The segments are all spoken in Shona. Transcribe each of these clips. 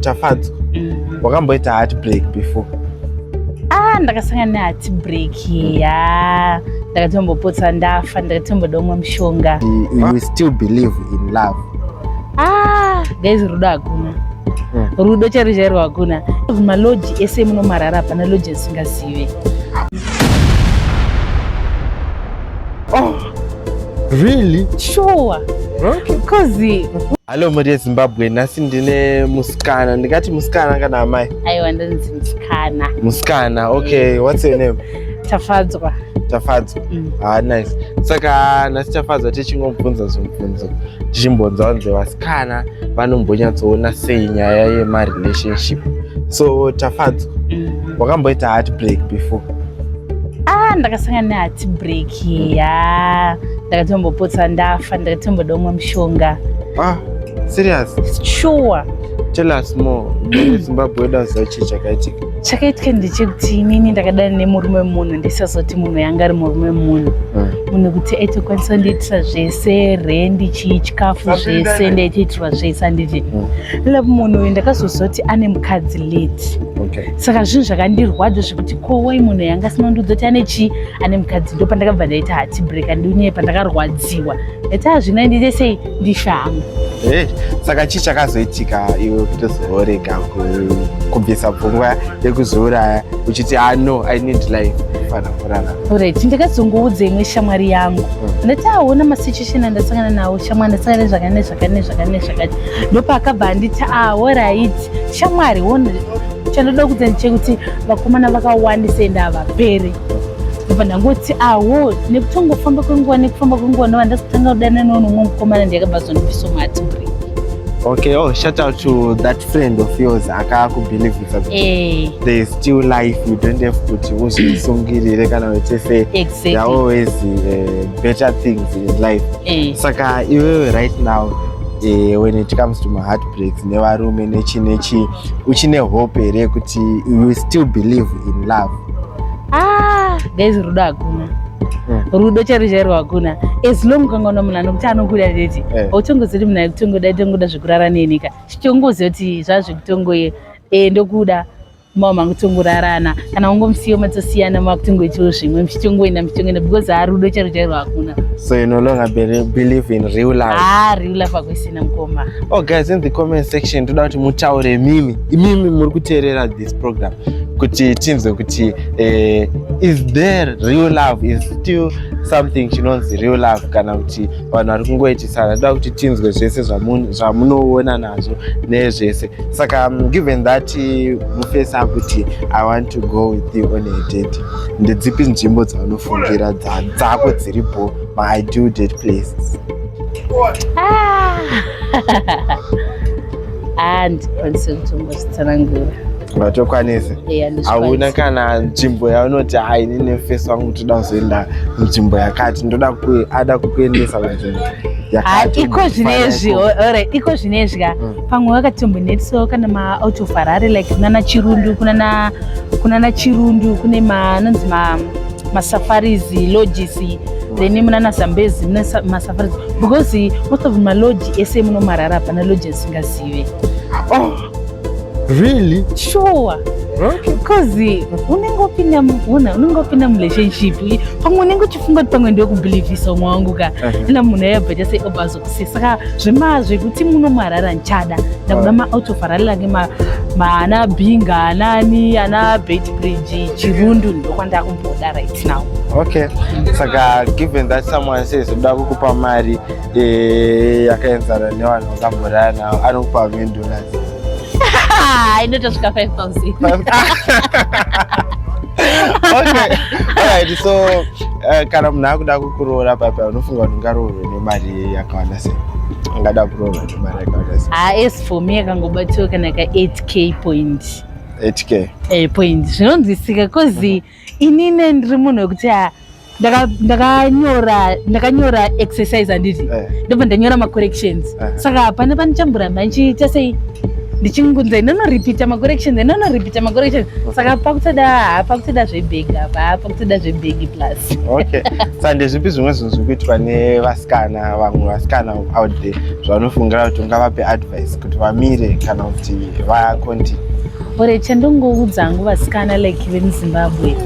Tafadzwa. Mm. Wakamboita heartbreak before? Ah, ndakasangana neheartbreak ya. Ndakatombopotsa ndafa, ndakatomboda umwe mushonga. You still believe in love? Ah, guys rudo hakuna. Mm. Rudo chero chero hakuna. Maloji ese munomarara pana loji asingazive. Really? Sure. Okay. Because Hello Maria Zimbabwe, nhasi ndine musikana. Ndingati musikana kana amai? Aiwa ndinzi musikana. Musikana. Okay, mm. what's your name? Tafadzwa. Tafadzwa. Mm. Ah, nice. Saka nhasi Tafadzwa tichingobvunza zvibvunzo. Tichimbonza vanzi vasikana vanombonyatsoona sei nyaya yema relationship. So Tafadzwa, mm. wakamboita heartbreak before? Ah, ndakasangana ne heartbreak. ya ndakatombopotsa ndafa ndakatomboda umwe mushonga ah serious sure tell us more zimbabwe dazachi chakaitika chakaitika ndechekuti inini ndakadana nemurume wemunhu ndisazoti munhu yanga ari murume wemunhu hmm. munhu kuti aitokwanisa kundiitisa zvese rendi chii chikafu zvese ndaitoitirwa zvese handiti hmm. lapo munhu uyu ndakazozoti ane mukadzi late saka zvinhu zvakandirwadza zvekuti kowai munhu yanga asina kundiudza kuti ane chii ane mukadzi ndo pandakabva ndaita hatibreak andiunye pandakarwadziwa ndaita hazvina ndiite sei ndishama eh, saka chii chakazoitika iwe kutozorega kubvisa pfungwa yekuzouraya uchiti ah no i need life fana kurara orit ndakazongoudza imwe shamwari yangu hmm. ndati aona ah, masituation andasangana nawo shamwari ndasangana zvakane zvakane zvakane zvakati ndopaakabva anditi aorit ah, shamwari wona chandoda kudzani chekuti vakomana vakawandisa ende havapere ndobva ndangoti awo nekutongofamba kwenguva nekufamba kwenguva ndova ndazotanga kudana newo nomwe mukomana ndiyakabva zondipiso mati bri okay oh shout out to that friend of yours akakubelievisa kuti eh. there is still life you don't have kuti uzvisungirire kana uchise exactly. there always uh, better things in life eh. saka iwewe right now eh, when it comes to maheartbreaks nevarume nechi nechi uchine hope here kuti you still believe in love ah guys rudo hakuna hmm. rudo chero chairo hakuna as long ukangaona munhu anokuti anokuda tete eh. hautongozivi kuti munhu aikutongoda itongoda zvekurara nenika chitongoziva kuti zvazvekutongoye eh, ndokuda mama makutongorarana kana ungomusiyo matosiyana makutongoitawo zvimwe muchitongoenda muchitongoenda because harudo charo chairo hakuna so you no longer believe in real life ah real life akuisina mukoma oh guys in the comment section toda kuti mutaure mimi imimi muri kuteerera this program kuti tinzwe kuti eh, is there real love is still something chinonzi real love kana kuti vanhu vari kungoitisana toda kuti tinzwe zvese zvamunoona nazvo nezvese saka um, given that eh, mufesa kuti i want to go with you on a date ndedzipi nzvimbo dzaunofungira dzako dziripo maideal date places ah. Ah, ndikwanise kutombozvitsanangura ngatokwanise hauna kana nzvimbo yaunoti hai nine face wangu toda kuzoenda nzvimbo yakati ndoda ada kukuendesa kunzvimbo iko zvinezvi ore iko zvinezvya mm. pamwe wakatombonetsawo kana maout of harare like kunana chirundu kunana kunana chirundu kune manonzi ma masafaris lodges then munana zambezi mune masafaris because most of malodge ese munomarara hapana lodge asingazive oh, really sure because unenge opinda una unenge opinda murelationship pamwe unenge uchifunga kuti pamwe ndiwe kubhilivhisa umwe wangu ka ena munhu ayabva chase obazo saka zvema zvekuti muno muharare ndichada ndakuda maout of harare lange maana binga anani ana beit bridge chirundu ndokwandava kumboda right now okay saka given that someone says uda kukupa mari eh, yakaenzana nevanhu vakamborara navo anokupa million dollars inotosvika 5000 okay alright so uh, kana munhu akuda kukuroora papa unofunga kuti ungaroorwe mari yakawanda sei angada kurova mari yakawanda sei ah as for me akangobatsirwa kana ka 8k point 8k eh point zvinonzwisika because inini ndiri munhu wekuti ah, ndakanyora ndakanyora exercise handiti eh. ndobva ndanyora macorrections eh. saka pane panichamburamba ndichiita sei ndichingunza inonoripita macorrections inonoripita macorrections saka pakutoda pakutoda zvebhega apa toda zvebhegi plus okay sa ndezvipi zvimwe zvinhu zviri kuitwa nevasikana vamwe vasikana out there zvavanofungira kuti ungavape advice kuti vamire kana kuti vaconti ore chandongoudza hangu vasikana like vemuzimbabwe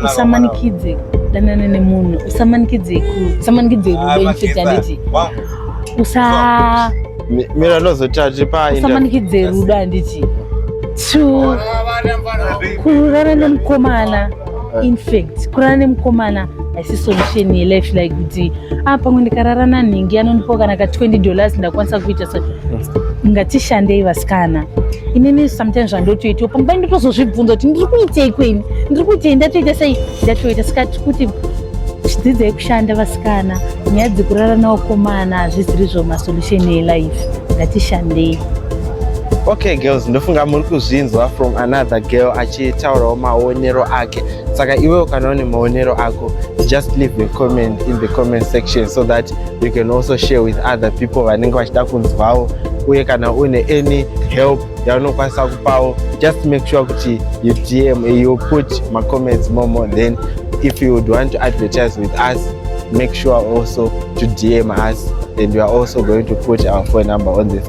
usamanikidze danana nemunhu usamanikidze usamanikidze rudo infidelity usa mira ndozotira tiri pa usamanikidze rudo handiti to kururana nemukomana in fact kurara nemukomana haisi solution yelife like kuti ah pamwe ndikarara nanhingi anondipawo kana ka 20 dollars ndakwanisa kuita so ngatishandei vasikana inini sometimes zvandotoitiwo pamba ndotozozvibvunza kuti ndiri kuitei kweni ndiri kuitei ndatoita sei ndatoita saka tiri kuti zvidzidzai kushanda vasikana nyaya dzekurara naokomana hazviziri zvo masolution yelife ngatishandei okay girls ndofunga muri kuzvinzwa from another girl achitaurawo maonero ake saka iwe ukanawo nemaonero ako just leave a comment in the comment section so that you can also share with other people vanenge vachida kunzwawo uye kana une any help yaunokwanisa kupawo just make sure kuti you dm you put macomments momo then if you would want to advertise with us make sure also to dm us and we are also going to put our phone number on this